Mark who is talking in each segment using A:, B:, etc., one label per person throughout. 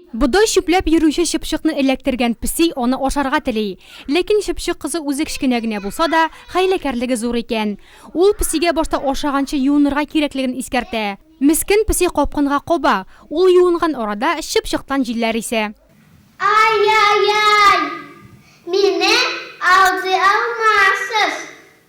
A: Бодай чүпләп йөрүче чыпчыкны эләктергән песи аны ашарга тели. Ләкин чыпчык кызы үзе кечкенә генә булса да, хәйләкәрлеге зур икән. Ул песигә башта ашаганчы юынырга кирәклеген искәртә. Мескен песи капкынга каба, ул юынган арада чыпчыктан җилләр исә. Ай-яй-яй!
B: Мине алдый алмассыз!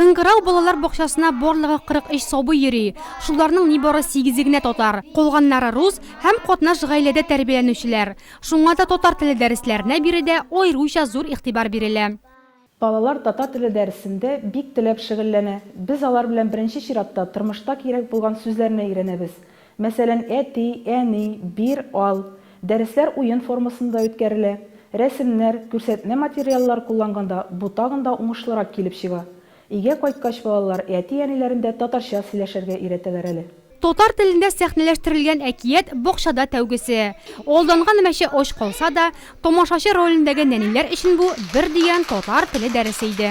A: Кыңгырау балалар бакчасына барлыгы 43 сабый йөри. Шуларның нибары сигезе генә татар, калганнары рус һәм катнаш гаиләдә тәрбияләнүчеләр. Шуңа да татар теле дәресләренә биредә аеруча зур игътибар бирелә. Балалар
C: татар теле дәресендә бик теләп шөгыльләнә. Без алар белән беренче чиратта тормышта кирәк булган сүзләрне өйрәнәбез. Мәсәлән, Әти, әни, бир, ал. Дәресләр уен формасында үткәрелә. Рәсемнәр, күрсәтмә материаллар кулланганда бу тагын да уңышлырак килеп чыга. Өйгә кайткач балалар әти-әниләрен дә татарча сөйләшергә өйрәтәләр әле. Татар телендә
A: сәхнәләштерелгән әкият Бакчада тәүгесе. Алданган мәче ач калса да, тамашачы ролендәге нәниләр өчен бу, бер дигән татар теле дәресе иде.